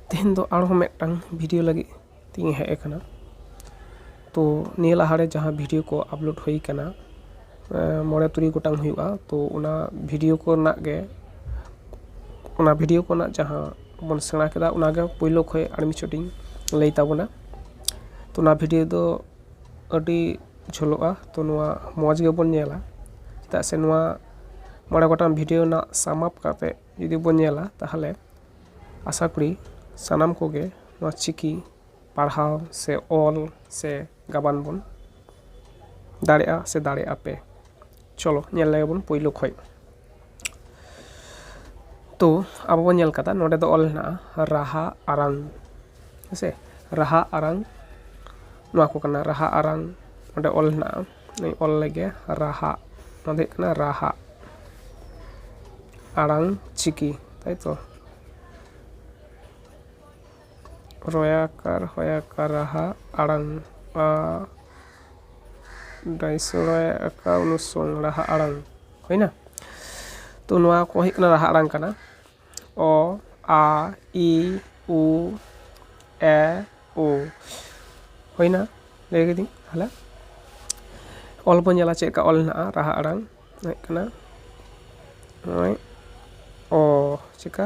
ᱛᱮᱦᱮᱧ ᱫᱚ ᱟᱨᱦᱚᱸ ᱢᱤᱫᱴᱟᱝ ᱵᱷᱤᱰᱤᱭᱳ ᱞᱟᱹᱜᱤᱫ ᱛᱤᱧ ᱦᱮᱡ ᱟᱠᱟᱱᱟ ᱛᱚ ᱱᱤᱭᱟᱹ ᱞᱟᱦᱟ ᱨᱮ ᱡᱟᱦᱟᱸ ᱵᱷᱤᱰᱤᱭᱳ ᱠᱚ ᱟᱯᱞᱳᱰ ᱦᱩᱭ ᱟᱠᱟᱱᱟ ᱢᱚᱬᱮ ᱛᱩᱨᱩᱭ ᱜᱚᱴᱟᱝ ᱦᱩᱭᱩᱜᱼᱟ ᱛᱚ ᱚᱱᱟ ᱵᱷᱤᱰᱤᱭᱳ ᱠᱚᱨᱮᱱᱟᱜ ᱜᱮ ᱚᱱᱟ ᱵᱷᱤᱰᱤᱭᱳ ᱠᱚᱨᱮᱱᱟᱜ ᱡᱟᱦᱟᱸ ᱵᱚᱱ ᱥᱮᱬᱟ ᱠᱮᱫᱟ ᱚᱱᱟ ᱜᱮ ᱯᱳᱭᱞᱳ ᱠᱷᱚᱱ ᱟᱨ ᱢᱤᱫ ᱪᱷᱚᱴᱤᱧ ᱞᱟᱹᱭ ᱛᱟᱵᱚᱱᱟ ᱛᱚ ᱚᱱᱟ ᱵᱷᱤᱰᱤᱭᱳ ᱫᱚ ᱟᱹᱰᱤ ᱡᱷᱟᱹᱞᱚᱜᱼᱟ ᱛᱚ ᱱᱚᱣᱟ ᱢᱚᱡᱽ ᱜᱮᱵᱚᱱ ᱧᱮᱞᱟ ᱪᱮᱫᱟᱜ ᱥᱮ ᱱᱚᱣᱟ ᱢᱚᱬᱮ ᱜᱚᱴᱟᱝ ᱵᱷᱤᱰᱭᱳ ᱨᱮᱱᱟᱜ ᱥᱟᱢᱟᱯ ᱠᱟᱛᱮ ᱡᱩᱫᱤ ᱵᱚᱱ ᱧᱮᱞᱟ ᱛᱟᱦᱚᱞᱮ ᱟᱥᱟ ᱠᱚᱨᱤ ᱥᱟᱱᱟᱢ ᱠᱚᱜᱮ ᱱᱚᱣᱟ ᱪᱤᱠᱤ ᱯᱟᱲᱦᱟᱣ ᱥᱮ ᱚᱞ ᱥᱮ ᱜᱟᱵᱟᱱ ᱵᱚᱱ ᱫᱟᱲᱮᱭᱟᱜᱼᱟ ᱥᱮ ᱫᱟᱲᱮᱭᱟᱜᱼᱟ ᱯᱮ ᱪᱚᱞᱚ ᱧᱮᱞ ᱞᱮᱜᱮ ᱵᱚᱱ ᱯᱳᱭᱞᱳ ᱠᱷᱚᱡ ᱛᱚ ᱟᱵᱚ ᱵᱚᱱ ᱧᱮᱞ ᱠᱟᱫᱟ ᱱᱚᱸᱰᱮ ᱫᱚ ᱚᱞ ᱦᱮᱱᱟᱜᱼᱟ ᱨᱟᱦᱟ ᱟᱲᱟᱝ ᱦᱮᱸ ᱥᱮ ᱨᱟᱦᱟ ᱟᱲᱟᱝ ᱱᱚᱣᱟ ᱠᱚ ᱠᱟᱱᱟ ᱨᱟᱦᱟ ᱟᱲᱟᱝ ᱚᱸᱰᱮ ᱚᱞ ᱦᱮᱱᱟᱜᱼᱟ ᱚᱱᱟᱧ ᱚᱞ ᱞᱮᱜᱮ ᱨᱟᱦᱟ ᱱᱚᱣᱟ ᱫᱚ ᱦᱩᱭᱩᱜ ᱠᱟᱱᱟ ᱨᱟᱦᱟ ᱟᱲᱟᱝ ᱪᱤᱠᱤ ᱛᱟᱭᱛᱚ ᱨᱚᱭᱟᱠᱟᱨ ᱦᱚᱭᱟᱠᱟᱨ ᱨᱟᱦᱟ ᱟᱲᱟᱝ ᱟᱨ ᱰᱟᱭᱥᱚ ᱨᱚᱭᱟᱠᱟ ᱚᱱᱩᱥᱚᱝ ᱨᱟᱦᱟ ᱟᱲᱟᱝ ᱦᱩᱭᱮᱱᱟ ᱛᱚ ᱱᱚᱣᱟ ᱠᱚ ᱦᱩᱭᱩᱜ ᱠᱟᱱᱟ ᱨᱟᱦᱟ ᱟᱲᱟᱝ ᱠᱟᱱᱟ ᱚ ᱟ ᱤ ᱩ ᱮ ᱳ ᱦᱩᱭᱮᱱᱟ ᱞᱟᱹᱭ ᱠᱤᱫᱟᱹᱧ ᱛᱟᱦᱚᱞᱮ ᱚᱞ ᱵᱚᱱ ᱧᱮᱞᱟ ᱪᱮᱫ ᱞᱮᱠᱟ ᱚᱞ ᱢᱮᱱᱟᱜᱼᱟ ᱨᱟᱦᱟ ᱟᱲᱟᱝ ᱦᱩᱭᱩᱜ ᱠᱟᱱᱟ ᱱᱚᱜᱼᱚᱭ ᱚ ᱪᱤᱠᱟ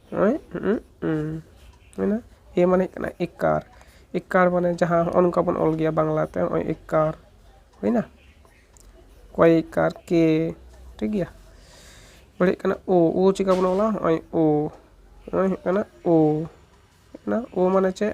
ᱦᱩᱭᱱᱟ ᱮ ᱢᱟᱱᱮ ᱦᱩᱭᱩᱜ ᱠᱟᱱᱟ ᱮᱠᱟᱨ ᱮᱠᱟᱨ ᱢᱟᱱᱮ ᱡᱟᱦᱟᱸ ᱦᱚᱸᱜᱼᱚ ᱱᱚᱝᱠᱟ ᱵᱚᱱ ᱚᱞ ᱜᱮᱭᱟ ᱵᱟᱝᱞᱟ ᱛᱮ ᱦᱚᱸᱜᱼᱚᱭ ᱮᱠᱟᱨ ᱦᱩᱭᱱᱟ ᱠᱚᱭ ᱮᱠᱟᱨ ᱠᱮ ᱴᱷᱤᱠ ᱜᱮᱭᱟ ᱮᱨᱯᱚᱨᱮ ᱦᱩᱭᱩᱜ ᱠᱟᱱᱟ ᱳ ᱳ ᱪᱤᱠᱟᱹ ᱵᱚᱱ ᱚᱞᱟ ᱦᱚᱸᱜᱼᱚᱭ ᱳ ᱱᱚᱜᱼᱚᱭ ᱦᱩᱭᱩᱜ ᱠᱟᱱᱟ ᱳ ᱚᱱᱟ ᱳ ᱢᱟᱱᱮ ᱪᱮᱫ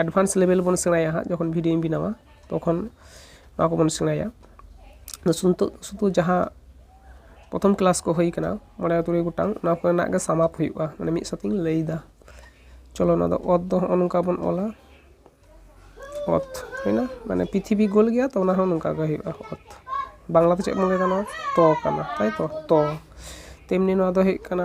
ᱮᱰᱵᱷᱟᱱᱥ ᱞᱮᱵᱮᱞ ᱵᱚᱱ ᱥᱮᱬᱟᱭᱟ ᱦᱟᱸᱜ ᱡᱚᱠᱷᱚᱱ ᱵᱷᱤᱰᱭᱳᱧ ᱵᱮᱱᱟᱣᱟ ᱛᱚᱠᱷᱚᱱ ᱱᱚᱣᱟ ᱠᱚᱵᱚᱱ ᱥᱮᱬᱟᱭᱟ ᱱᱤᱛᱚᱜ ᱥᱩᱫᱷᱩ ᱡᱟᱦᱟᱸ ᱯᱨᱚᱛᱷᱚᱢ ᱠᱞᱟᱥ ᱠᱚ ᱦᱩᱭ ᱠᱟᱱᱟ ᱢᱚᱬᱮ ᱛᱩᱨᱩᱭ ᱜᱚᱴᱟᱝ ᱚᱱᱟ ᱠᱚᱨᱮᱱᱟᱜ ᱜᱮ ᱥᱟᱢᱟᱯ ᱦᱩᱭᱩᱜᱼᱟ ᱢᱟᱱᱮ ᱢᱤᱫ ᱥᱟᱶᱛᱮᱧ ᱞᱟᱹᱭᱫᱟ ᱪᱚᱞᱚ ᱱᱚᱣᱟ ᱫᱚ ᱚᱛ ᱫᱚ ᱦᱚᱸᱜᱼᱚ ᱱᱚᱝᱠᱟ ᱵᱚᱱ ᱚᱞᱟ ᱚᱛ ᱦᱩᱭᱱᱟ ᱢᱟᱱᱮ ᱯᱨᱤᱛᱷᱤᱵᱤ ᱜᱳᱞ ᱜᱮᱭᱟ ᱛᱚ ᱚᱱᱟ ᱦᱚᱸ ᱱᱚᱝᱠᱟ ᱜᱮ ᱦᱩᱭᱩᱜᱼᱟ ᱚᱛ ᱵᱟᱝᱞᱟᱛᱮ ᱪᱮᱫ ᱵᱚᱱ ᱞᱟᱹᱭᱫᱟ ᱱᱚᱣᱟ ᱛᱚ ᱠᱟᱱᱟ ᱛᱟᱭᱛᱚ ᱛᱚ ᱛᱮᱢᱱᱤ ᱱᱚᱣᱟ ᱫᱚ ᱦᱩᱭᱩᱜ ᱠᱟᱱᱟ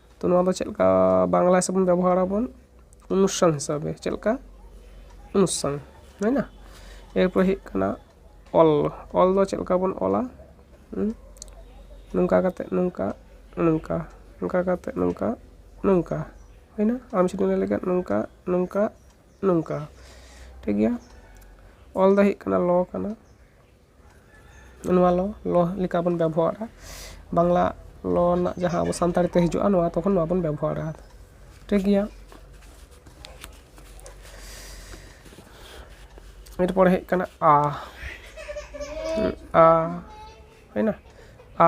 ᱛᱚ ᱱᱚᱣᱟ ᱫᱚ ᱪᱮᱫ ᱞᱮᱠᱟ ᱵᱟᱝᱞᱟ ᱦᱤᱥᱟᱹᱵ ᱵᱚᱱ ᱵᱮᱵᱚᱦᱟᱨᱟ ᱵᱚᱱ ᱚᱱᱩᱥᱴᱷᱟᱱ ᱦᱤᱥᱟᱹᱵᱮ ᱪᱮᱫ ᱞᱮᱠᱟ ᱚᱱᱩᱥᱴᱷᱟᱱ ᱦᱩᱭᱱᱟ ᱮᱨᱯᱚᱨᱮ ᱦᱩᱭᱩᱜ ᱠᱟᱱᱟ ᱚᱞ ᱚᱞ ᱫᱚ ᱪᱮᱫ ᱞᱮᱠᱟ ᱵᱚᱱ ᱚᱞᱟ ᱱᱚᱝᱠᱟ ᱠᱟᱛᱮ ᱱᱚᱝᱠᱟ ᱱᱚᱝᱠᱟ ᱱᱚᱝᱠᱟ ᱠᱟᱛᱮ ᱱᱚᱝᱠᱟ ᱱᱚᱝᱠᱟ ᱦᱩᱭᱱᱟ ᱟᱢ ᱡᱩᱫᱤᱢ ᱞᱟᱹᱭ ᱞᱮᱠᱷᱟᱱ ᱱᱚᱝᱠᱟ ᱱᱚᱝᱠᱟ ᱱᱚᱝᱠᱟ ᱴᱷᱤᱠ ᱜᱮᱭᱟ ᱚᱞ ᱫᱚ ᱦᱩᱭᱩᱜ ᱠᱟᱱᱟ ᱞᱚ ᱠᱟᱱᱟ ᱱᱚᱣᱟ ᱞᱚ ᱞᱚ ᱞᱮᱠᱟ ᱵᱚᱱ ᱵᱮᱵᱚᱦᱟᱨᱟ ᱵᱟᱝᱞᱟ ᱞᱚ ᱨᱮᱱᱟᱜ ᱡᱟᱦᱟᱸ ᱟᱵᱚ ᱥᱟᱱᱛᱟᱲᱤ ᱛᱮ ᱦᱤᱡᱩᱜᱼᱟ ᱱᱚᱣᱟ ᱛᱚᱠᱷᱚᱱ ᱱᱚᱣᱟ ᱵᱚᱱ ᱵᱮᱵᱚᱦᱟᱨᱟ ᱴᱷᱤᱠᱜᱮᱭᱟ ᱮᱨᱯᱚᱨ ᱦᱮᱡ ᱠᱟᱱᱟ ᱟ ᱟ ᱦᱩᱭᱱᱟ ᱟ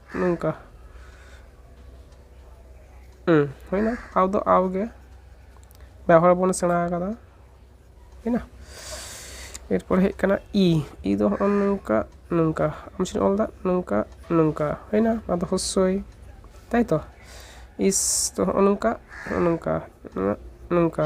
ᱱᱚᱝᱠᱟ ᱦᱩᱸ ᱦᱩᱭᱱᱟ ᱟᱣ ᱫᱚ ᱟᱣ ᱜᱮ ᱵᱮᱣᱦᱟᱨ ᱵᱚᱱ ᱥᱮᱬᱟ ᱟᱠᱟᱫᱟ ᱦᱩᱭᱱᱟ ᱮᱨᱯᱚᱨ ᱦᱮᱡ ᱠᱟᱱᱟ ᱤ ᱤ ᱫᱚ ᱦᱚᱸᱜᱼᱚ ᱱᱚᱝᱠᱟ ᱱᱚᱝᱠᱟ ᱟᱢ ᱪᱮᱫ ᱚᱞ ᱫᱟ ᱱᱚᱝᱠᱟ ᱱᱚᱝᱠᱟ ᱦᱩᱭᱱᱟ ᱱᱚᱣᱟ ᱫᱚ ᱦᱚᱥᱥᱚᱭ ᱛᱟᱭᱛᱚ ᱤᱥ ᱫᱚ ᱦᱚᱸᱜᱼᱚ ᱱᱚᱝᱠᱟ ᱦᱚᱸᱜᱼᱚ ᱱᱚᱝᱠᱟ ᱱᱚᱝᱠᱟ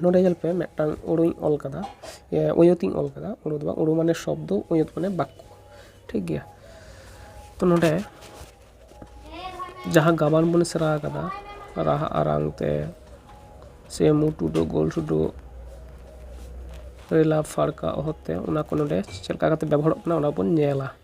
ᱱᱚᱸᱰᱮ ᱧᱮᱞ ᱯᱮ ᱢᱤᱫᱴᱟᱝ ᱳᱭᱳᱧ ᱚᱞ ᱠᱟᱫᱟ ᱳᱭᱳᱛᱤᱧ ᱚᱞ ᱠᱟᱫᱟ ᱳᱭᱳ ᱫᱚ ᱵᱟᱝ ᱳᱭᱳ ᱢᱟᱱᱮ ᱥᱚᱵᱫᱚ ᱳᱭᱳᱛ ᱢᱟᱱᱮ ᱵᱟᱠᱠᱚ ᱴᱷᱤᱠ ᱜᱮᱭᱟ ᱛᱚ ᱱᱚᱸᱰᱮ ᱡᱟᱦᱟᱸ ᱜᱟᱵᱟᱱ ᱵᱚᱱ ᱥᱮᱬᱟ ᱠᱟᱫᱟ ᱨᱟᱦᱟ ᱟᱨᱟᱝ ᱛᱮ ᱥᱮ ᱢᱩ ᱴᱩᱰᱟᱹᱜ ᱜᱳᱞ ᱴᱩᱰᱟᱹᱜ ᱨᱮᱞᱟ ᱯᱷᱟᱨᱠᱟ ᱚᱦᱚᱫ ᱛᱮ ᱚᱱᱟ ᱠᱚ ᱱᱚᱸᱰᱮ ᱪᱮᱫ ᱞᱮᱠᱟ ᱠᱟᱛᱮ ᱵᱮᱵᱚᱦᱟᱨᱚᱜ ᱠᱟᱱᱟ ᱚᱱᱟ ᱵᱚᱱ ᱧᱮᱞᱟ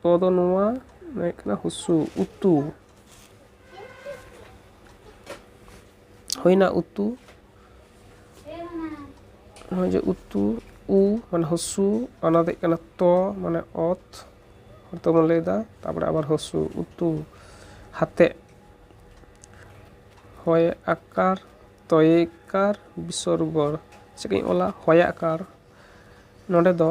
ᱛᱚ ᱫᱚ ᱱᱚᱣᱟ ᱦᱩᱭᱩᱜ ᱠᱟᱱᱟ ᱦᱩᱥᱩ ᱩᱛᱩ ᱦᱩᱭᱱᱟ ᱩᱛᱩ ᱱᱚᱜᱼᱚᱭ ᱡᱮ ᱩᱛᱩ ᱩ ᱢᱟᱱᱮ ᱦᱩᱥᱩ ᱚᱱᱟ ᱫᱚ ᱦᱩᱭᱩᱜ ᱠᱟᱱᱟ ᱛᱚ ᱢᱟᱱᱮ ᱚᱛ ᱦᱚᱭᱛᱚ ᱵᱚᱱ ᱞᱟᱹᱭᱫᱟ ᱛᱟᱯᱚᱨᱮ ᱟᱵᱟᱨ ᱦᱩᱥᱩ ᱩᱛᱩ ᱦᱟᱛᱮᱜ ᱦᱚᱭ ᱟᱠᱟᱨ ᱛᱚᱭᱮᱠᱟᱨ ᱵᱤᱥᱚᱨᱜᱚ ᱪᱮᱫ ᱠᱟᱹᱧ ᱚᱞᱟ ᱦᱚᱭᱟᱠᱟᱨ ᱱᱚᱸᱰᱮ ᱫᱚ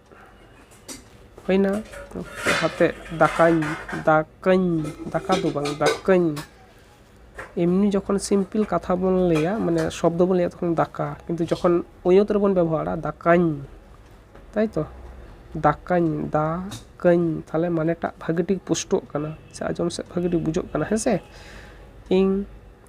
ᱦᱩᱭᱱᱟ ᱞᱟᱦᱟᱛᱮ ᱫᱟᱠᱟᱧ ᱫᱟᱠᱟᱧ ᱫᱟᱠᱟ ᱫᱚ ᱵᱟᱝ ᱫᱟᱠᱟᱧ ᱮᱢᱱᱤ ᱡᱚᱠᱷᱚᱱ ᱥᱤᱢᱯᱤᱞ ᱠᱟᱛᱷᱟ ᱵᱚᱱ ᱞᱟᱹᱭᱟ ᱢᱟᱱᱮ ᱥᱚᱵᱫᱚ ᱵᱚᱱ ᱞᱟᱹᱭᱟ ᱛᱚᱠᱷᱚᱱ ᱫᱟᱠᱟ ᱠᱤᱱᱛᱩ ᱡᱚᱠᱷᱚᱱ ᱳᱭᱳᱛ ᱨᱮᱵᱚᱱ ᱵᱮᱵᱚᱦᱟᱨᱟ ᱫᱟᱠᱟᱧ ᱛᱟᱭᱛᱚ ᱫᱟᱠᱟᱧ ᱫᱟ ᱠᱟᱹᱧ ᱛᱟᱦᱞᱮ ᱢᱟᱱᱮᱴᱟᱜ ᱵᱷᱟᱹᱜᱤ ᱴᱷᱤᱠ ᱯᱩᱥᱴᱟᱹᱜ ᱠᱟᱱᱟ ᱥᱮ ᱟᱸᱡᱚᱢ ᱥᱮᱫ ᱵᱷᱟᱹᱜᱤ ᱴᱷᱤᱠ ᱵᱩᱡᱷᱟᱹᱜ ᱠᱟᱱᱟ ᱦᱮᱸᱥᱮ ᱤᱧ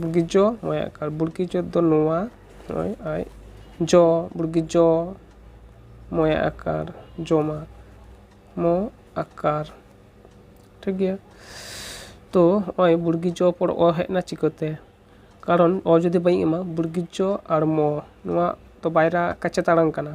ᱵᱩᱜᱤ ᱡᱚ ᱱᱚᱣᱟ ᱟᱭᱟᱜ ᱠᱟᱨᱰ ᱵᱩᱜᱤ ᱡᱚ ᱫᱚ ᱱᱚᱣᱟ ᱱᱚᱜᱼᱚᱭ ᱟᱡ ᱡᱚ ᱵᱩᱜᱤ ᱡᱚ ᱢᱚ ᱟᱭᱟᱜ ᱟᱠᱟᱨ ᱡᱚᱢᱟ ᱢᱚ ᱟᱠᱟᱨ ᱴᱷᱤᱠ ᱜᱮᱭᱟ ᱛᱚ ᱱᱚᱜᱼᱚᱭ ᱵᱩᱜᱤ ᱡᱚ ᱯᱚᱨ ᱚ ᱦᱮᱡ ᱮᱱᱟ ᱪᱤᱠᱟᱹᱛᱮ ᱠᱟᱨᱚᱱ ᱚ ᱡᱩᱫᱤ ᱵᱟᱹᱧ ᱮᱢᱟ ᱵᱩᱜᱤ ᱡᱚ ᱟᱨ ᱢᱚ ᱱᱚᱣᱟ ᱛᱚ ᱵᱟᱭᱨᱟ ᱠᱟᱪᱟ ᱛᱟᱲᱟᱝ ᱠᱟᱱᱟ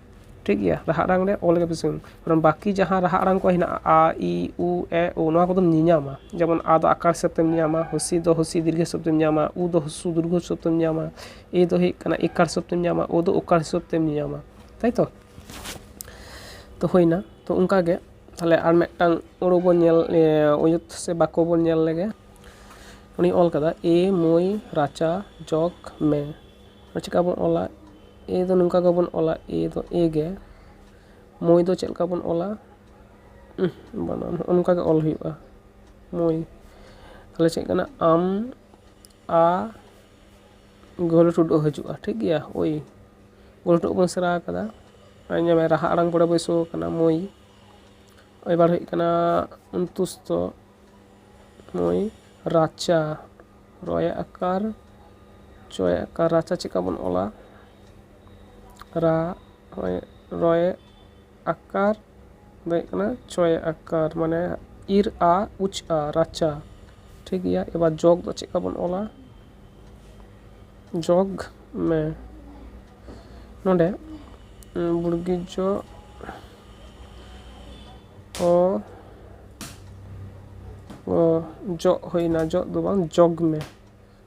ᱴᱷᱤᱠ ᱜᱮᱭᱟ ᱨᱟᱦᱟ ᱟᱲᱟᱝ ᱨᱮ ᱚᱞ ᱜᱮ ᱵᱮᱥᱤ ᱠᱟᱨᱚᱱ ᱵᱟᱹᱠᱤ ᱡᱟᱦᱟᱸ ᱨᱟᱦᱟ ᱟᱲᱟᱝ ᱠᱚ ᱦᱮᱱᱟᱜᱼᱟ ᱟ ᱤ ᱩ ᱮ ᱳ ᱱᱚᱣᱟ ᱠᱚᱫᱚᱢ ᱧᱮᱧᱟᱢᱟ ᱡᱮᱢᱚᱱ ᱟ ᱫᱚ ᱟᱠᱟᱨ ᱦᱤᱥᱟᱹᱵ ᱛᱮᱢ ᱧᱟᱢᱟ ᱦᱤᱥᱤ ᱫᱚ ᱦᱤᱥᱤ ᱫᱤᱨᱜᱷᱚ ᱦᱤᱥᱟᱹᱵ ᱛᱮᱢ ᱧᱟᱢᱟ ᱩ ᱫᱚ ᱩᱥᱩ ᱫᱤᱨᱜᱷᱚ ᱦᱤᱥᱟᱹᱵ ᱛᱮᱢ ᱧᱟᱢᱟ ᱮ ᱫᱚ ᱦᱩᱭᱩᱜ ᱠᱟᱱᱟ ᱮᱠᱟᱨ ᱦᱤᱥᱟᱹᱵ ᱛᱮᱢ ᱧᱟᱢᱟ ᱳ ᱫᱚ ᱳᱠᱟᱨ ᱦᱤᱥᱟᱹᱵ ᱛᱮᱢ ᱧᱟᱢᱟ ᱛᱟᱭ ᱛᱚ ᱛᱚ ᱦᱩᱭᱱᱟ ᱛᱚ ᱚᱱᱠᱟ ᱜᱮ ᱛᱟᱦᱚᱞᱮ ᱟᱨ ᱢᱤᱫᱴᱟᱝ ᱟᱹᱲᱟᱹ ᱵᱚᱱ ᱧᱮᱞ ᱟᱹᱭᱟᱹᱛ ᱥᱮ ᱵᱟᱠᱚ ᱵᱚᱱ ᱧᱮᱞ ᱞᱮᱜᱮ ᱩᱱᱤᱭ ᱚᱞ ᱠᱟᱫᱟ ᱮ ᱢᱟᱹᱭ ᱨᱟᱪᱟ ᱡᱚᱜᱽ ᱢᱮ ᱟᱫᱚ ᱪᱮᱠᱟ ᱵᱚᱱ ᱚᱞᱟ ᱮ ᱫᱚ ᱱᱚᱝᱠᱟ ᱜᱮᱵᱚᱱ ᱚᱞᱟ ᱮ ᱫᱚ ᱮ ᱜᱮ ᱢᱳᱭ ᱫᱚ ᱪᱮᱫ ᱞᱮᱠᱟ ᱵᱚᱱ ᱚᱞᱟ ᱵᱟᱱᱟᱢ ᱦᱚᱸᱜᱼᱚ ᱱᱚᱝᱠᱟ ᱜᱮ ᱚᱞ ᱦᱩᱭᱩᱜᱼᱟ ᱢᱳᱭ ᱛᱟᱦᱚᱞᱮ ᱪᱮᱫ ᱠᱟᱱᱟ ᱟᱢ ᱟ ᱜᱳᱞ ᱴᱩᱰᱟᱹᱜ ᱦᱤᱡᱩᱜᱼᱟ ᱴᱷᱤᱠ ᱜᱮᱭᱟ ᱳᱭ ᱜᱳᱞ ᱴᱩᱰᱟᱹᱜ ᱵᱚᱱ ᱥᱮᱬᱟ ᱟᱠᱟᱫᱟ ᱟᱨ ᱧᱮᱞ ᱢᱮ ᱨᱟᱦᱟ ᱟᱲᱟᱝ ᱯᱚᱨᱮ ᱵᱟᱹᱭᱥᱟᱹᱣ ᱠᱟᱱᱟ ᱢᱳᱭ ᱮᱵᱟᱨ ᱦᱩᱭᱩᱜ ᱠᱟᱱᱟ ᱚᱱᱛᱩᱥᱛᱚ ᱢᱳᱭ ᱨᱟᱪᱟ ᱨᱚᱭᱮ ᱟᱠᱟᱨ ᱪᱚᱭᱮ ᱟᱠᱟᱨ ᱨᱟᱪᱟ ᱪᱮᱫ ᱞᱮᱠᱟ ᱵᱚᱱ ᱚᱞᱟ ᱨᱟ ᱦᱚᱭ ᱨᱚᱭᱮ ᱟᱠᱟᱨ ᱫᱚ ᱦᱩᱭᱩᱜ ᱠᱟᱱᱟ ᱪᱚᱭᱮ ᱟᱠᱟᱨ ᱢᱟᱱᱮ ᱤᱨ ᱟ ᱩᱪ ᱟ ᱨᱟᱪᱟ ᱴᱷᱤᱠ ᱜᱮᱭᱟ ᱮᱵᱟᱨ ᱡᱚᱜᱽ ᱫᱚ ᱪᱮᱫ ᱞᱮᱠᱟ ᱵᱚᱱ ᱚᱞᱟ ᱡᱚᱜᱽ ᱢᱮ ᱱᱚᱰᱮ ᱵᱩᱲᱜᱤ ᱡᱚ ᱚ ᱚ ᱡᱚᱜ ᱦᱩᱭᱱᱟ ᱡᱚᱜ ᱫᱚ ᱵᱟᱝ ᱡᱚᱜᱽ ᱢᱮ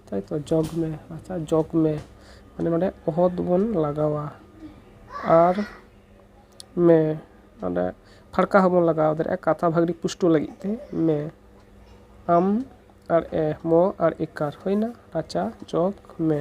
ᱛᱟᱭᱛᱚ ᱡᱚᱜᱽ ᱢᱮ ᱟᱪᱪᱷᱟ ᱡᱚᱜᱽ ᱢᱮ ᱢᱟᱱᱮ ᱱᱚᱸᱰᱮ ᱚᱦᱚᱫ ᱵᱚᱱ ᱞᱟᱜᱟᱣᱟ ᱟᱨ ᱢᱮ ᱱᱚᱸᱰᱮ ᱯᱷᱟᱲᱠᱟ ᱦᱚᱸᱵᱚᱱ ᱞᱟᱜᱟᱣ ᱫᱟᱲᱮᱭᱟᱜᱼᱟ ᱠᱟᱛᱷᱟ ᱵᱷᱟᱹᱜᱤ ᱯᱩᱥᱴᱟᱹᱣ ᱞᱟᱹᱜᱤᱫ ᱛᱮ ᱢᱮ ᱟᱢ ᱟᱨ ᱮ ᱢᱚ ᱟᱨ ᱮᱠᱟᱨ ᱦᱩᱭᱱᱟ ᱟᱪᱪᱷᱟ ᱡᱚᱜᱽ ᱢᱮ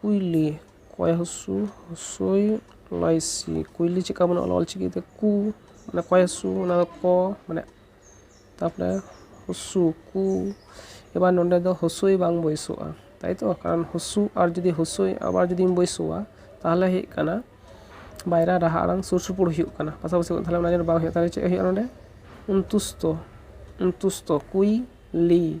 ᱠᱩᱭᱞᱤ ᱠᱚᱭ ᱦᱚᱥᱩ ᱦᱚᱥᱳᱭ ᱞᱚᱭ ᱥᱤ ᱠᱩᱭᱞᱤ ᱪᱮᱫ ᱞᱮᱠᱟ ᱵᱚᱱ ᱚᱞᱟ ᱚᱞ ᱪᱤᱠᱤᱛᱮ ᱠᱩ ᱚᱱᱟ ᱠᱚᱭ ᱦᱚᱥᱩ ᱚᱱᱟ ᱫᱚ ᱠᱚ ᱢᱟᱱᱮ ᱛᱟᱨᱯᱚᱨᱮ ᱦᱚᱥᱩ ᱠᱩ ᱮᱵᱟᱨ ᱱᱚᱸᱰᱮ ᱫᱚ ᱦᱚᱥᱳᱭ ᱵᱟᱝ ᱵᱟᱹᱭᱥᱟᱹᱜᱼᱟ ᱛᱟᱭ ᱛᱚ ᱠᱟᱨᱚᱱ ᱦᱚᱥᱩ ᱟᱨ ᱡᱩᱫᱤ ᱦᱚᱥᱳᱭ ᱟᱵᱟᱨ ᱡᱩᱫᱤᱢ ᱵᱟᱹᱭᱥᱟᱹᱣᱟ ᱛᱟᱦᱚᱞᱮ ᱦᱩᱭᱩᱜ ᱠᱟᱱᱟ ᱵᱟᱭᱨᱟ ᱨᱟᱦᱟ ᱟᱲᱟᱝ ᱥᱩᱨ ᱥᱩᱯᱩᱨ ᱦᱩᱭᱩᱜ ᱠᱟᱱᱟ ᱯᱟᱥᱟ ᱯᱟᱥᱤ ᱛᱟᱦᱚᱞᱮ ᱚᱱᱟ ᱡᱮᱱᱚ ᱵᱟᱝ ᱦᱩᱭᱩᱜ ᱛᱟᱦᱚᱞᱮ ᱪᱮᱫ ᱦᱩᱭᱩᱜᱼᱟ ᱱᱚᱸᱰᱮ ᱚᱱᱛᱩᱥᱛᱚ ᱚᱱᱛᱩᱥᱛᱚ ᱠᱩᱭ ᱞᱤ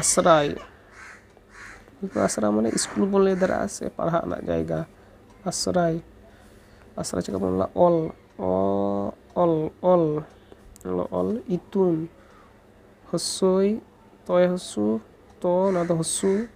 ᱟᱥᱲᱟ ᱦᱩᱭᱩᱜᱼᱟ ᱠᱤᱱᱛᱩ ᱟᱥᱲᱟ ᱢᱟᱱᱮ ᱤᱥᱠᱩᱞ ᱵᱚᱱ ᱞᱟᱹᱭ ᱫᱟᱲᱮᱭᱟᱜᱼᱟ ᱥᱮ ᱯᱟᱲᱦᱟᱜ ᱨᱮᱱᱟᱜ ᱡᱟᱭᱜᱟ ᱟᱥᱲᱟ ᱟᱥᱲᱟ ᱪᱤᱠᱟᱹ ᱵᱚᱱ ᱚᱞᱟ ᱚᱞ ᱚᱞ ᱚᱞ ᱚᱞᱚᱜ ᱚᱞ ᱤᱛᱩᱱ ᱦᱩᱥᱩᱭ ᱛᱚᱭ ᱦᱩᱥᱩ ᱛᱚ ᱚᱱᱟ ᱫᱚ ᱦᱩᱥᱩ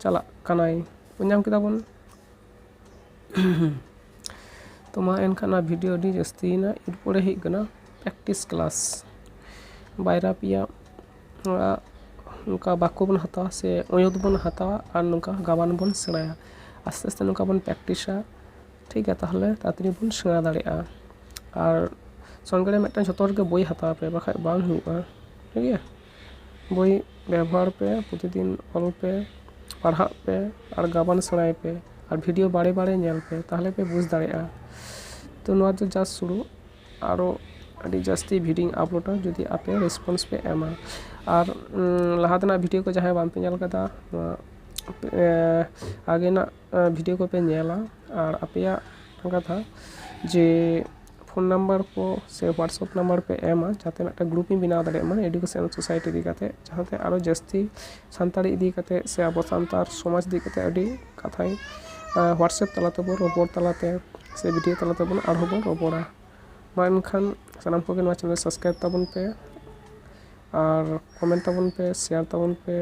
ᱪᱟᱞᱟᱜ ᱠᱟᱱᱟᱭ ᱵᱩᱡᱽ ᱧᱟᱢ ᱠᱮᱫᱟ ᱵᱚᱱ ᱛᱚ ᱢᱟ ᱮᱱᱠᱷᱟᱱ ᱱᱚᱣᱟ ᱵᱷᱤᱰᱤᱭᱳ ᱟᱹᱰᱤ ᱡᱟᱹᱥᱛᱤᱭᱮᱱᱟ ᱮᱨᱯᱚᱨᱮ ᱦᱩᱭᱩᱜ ᱠᱟᱱᱟ ᱯᱨᱮᱠᱴᱤᱥ ᱠᱞᱟᱥ ᱵᱟᱭᱨᱟ ᱯᱮᱭᱟ ᱱᱚᱝᱠᱟ ᱵᱟᱠᱠᱚ ᱵᱚᱱ ᱦᱟᱛᱟᱣᱟ ᱥᱮ ᱚᱭᱳᱫ ᱵᱚᱱ ᱦᱟᱛᱟᱣᱟ ᱟᱨ ᱱᱚᱝᱠᱟ ᱜᱟᱵᱟᱱ ᱵᱚᱱ ᱥᱮᱬᱟᱭᱟ ᱟᱥᱛᱮ ᱟᱥᱛᱮ ᱱᱚᱝᱠᱟ ᱵᱚᱱ ᱯᱨᱮᱠᱴᱤᱥᱟ ᱴᱷᱤᱠ ᱜᱮᱭᱟ ᱛᱟᱦᱚᱞᱮ ᱛᱟᱲᱟᱛᱟᱲᱤ ᱵᱚᱱ ᱥᱮᱬᱟ ᱫᱟᱲᱮᱭᱟᱜᱼᱟ ᱟᱨ ᱥᱚᱸᱜᱮ ᱨᱮ ᱢᱤᱫᱴᱟᱱ ᱡᱷᱚᱛᱚ ᱦᱚᱲᱜᱮ ᱵᱳᱭ ᱦᱟᱛᱟᱣ ᱯᱮ ᱵᱟᱠᱷᱟᱡ ᱵᱟᱝ ᱦᱩᱭᱩᱜᱼᱟ ᱴᱷᱤᱠ ᱜᱮᱭᱟ ᱵᱳᱭ ᱵᱮᱵᱚᱦᱟᱨ ᱯᱮ ᱯᱨᱚᱛᱤᱫᱤᱱ ᱚᱞ ᱯᱮ ᱯᱟᱲᱦᱟᱜ ᱯᱮ ᱟᱨ ᱜᱟᱵᱟᱱ ᱥᱮᱬᱟᱭ ᱯᱮ ᱟᱨ ᱵᱷᱤᱰᱤᱭᱳ ᱵᱟᱨᱮ ᱵᱟᱨᱮ ᱧᱮᱞ ᱯᱮ ᱛᱟᱦᱚᱞᱮ ᱯᱮ ᱵᱩᱡᱽ ᱫᱟᱲᱮᱭᱟᱜᱼᱟ ᱛᱚ ᱱᱚᱣᱟ ᱫᱚ ᱡᱟᱥᱴ ᱥᱩᱨᱩ ᱟᱨᱚ ᱟᱹᱰᱤ ᱡᱟᱹᱥᱛᱤ ᱵᱷᱤᱰᱭᱳᱧ ᱟᱯᱞᱳᱰᱟ ᱡᱩᱫᱤ ᱟᱯᱮ ᱨᱮᱥᱯᱚᱱᱥ ᱯᱮ ᱮᱢᱟ ᱟᱨ ᱞᱟᱦᱟ ᱛᱮᱱᱟᱜ ᱵᱷᱤᱰᱭᱳ ᱠᱚ ᱡᱟᱦᱟᱸᱭ ᱵᱟᱝᱯᱮ ᱧᱮᱞ ᱠᱟᱫᱟ ᱱᱚᱣᱟ ᱟᱜᱮᱱᱟᱜ ᱵᱷᱤᱰᱭᱳ ᱠᱚᱯᱮ ᱧᱮᱞᱟ ᱟᱨ ᱟᱯᱮᱭᱟᱜ ᱠᱟᱛᱷᱟ ᱡᱮ ᱯᱷᱳᱱ ᱱᱟᱢᱵᱟᱨ ᱠᱚ ᱥᱮ ᱦᱳᱣᱟᱴᱥᱮᱯ ᱱᱟᱢᱵᱟᱨ ᱯᱮ ᱮᱢᱟ ᱡᱟᱛᱮ ᱢᱤᱫᱴᱮᱱ ᱜᱨᱩᱯ ᱤᱧ ᱵᱮᱱᱟᱣ ᱫᱟᱲᱮᱭᱟᱜ ᱢᱟ ᱮᱰᱩᱠᱮᱥᱚᱱ ᱥᱳᱥᱟᱭᱤᱴᱤ ᱤᱫᱤ ᱠᱟᱛᱮᱫ ᱡᱟᱦᱟᱸᱛᱮ ᱟᱨᱚ ᱡᱟᱹᱥᱛᱤ ᱥᱟᱱᱛᱟᱲᱤ ᱤᱫᱤ ᱠᱟᱛᱮᱫ ᱥᱮ ᱟᱵᱚ ᱥᱟᱱᱛᱟᱲ ᱥᱚᱢᱟᱡᱽ ᱤᱫᱤ ᱠᱟᱛᱮᱫ ᱟᱹᱰᱤ ᱠᱟᱛᱷᱟᱭ ᱦᱳᱣᱟᱴᱥᱮᱯ ᱛᱟᱞᱟ ᱛᱮᱵᱚᱱ ᱨᱚᱯᱚᱲ ᱛᱟᱞᱟ ᱛᱮ ᱥᱮ ᱵᱷᱤᱰᱭᱳ ᱛᱟᱞᱟ ᱛᱮᱵᱚᱱ ᱟᱨᱦᱚᱸ ᱵᱚᱱ ᱨᱚᱯᱚᱲᱟ ᱢᱟ ᱮᱱᱠᱷᱟᱱ ᱥᱟᱱᱟᱢ ᱠᱚᱜᱮ ᱱᱚᱣᱟ ᱪᱮᱱᱮᱞ ᱥᱟᱵᱥᱠᱨᱟᱭᱤᱵᱽ ᱛᱟᱵᱚᱱ ᱯᱮ ᱟᱨ ᱠᱚᱢᱮᱱᱴ ᱛᱟᱵᱚᱱ ᱯᱮ ᱥᱮᱭᱟᱨ ᱛᱟᱵᱚᱱ ᱯᱮ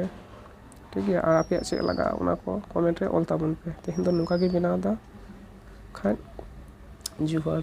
ᱴᱷᱤᱠ ᱜᱮᱭᱟ ᱟᱨ ᱟᱯᱮᱭᱟᱜ ᱪᱮᱫ ᱞᱟᱜᱟᱜᱼᱟ ᱚᱱᱟ ᱠᱚ ᱠᱚᱢᱮᱱᱴ ᱨᱮ ᱚᱞ ᱛᱟᱵᱚᱱ ᱯᱮ ᱛᱮᱦᱮᱧ ᱫᱚ ᱱᱚᱝᱠᱟ ᱜᱤᱧ ᱵᱮᱱᱟᱣᱫᱟ ᱠᱷᱟᱡ ᱡᱚᱦᱟᱨ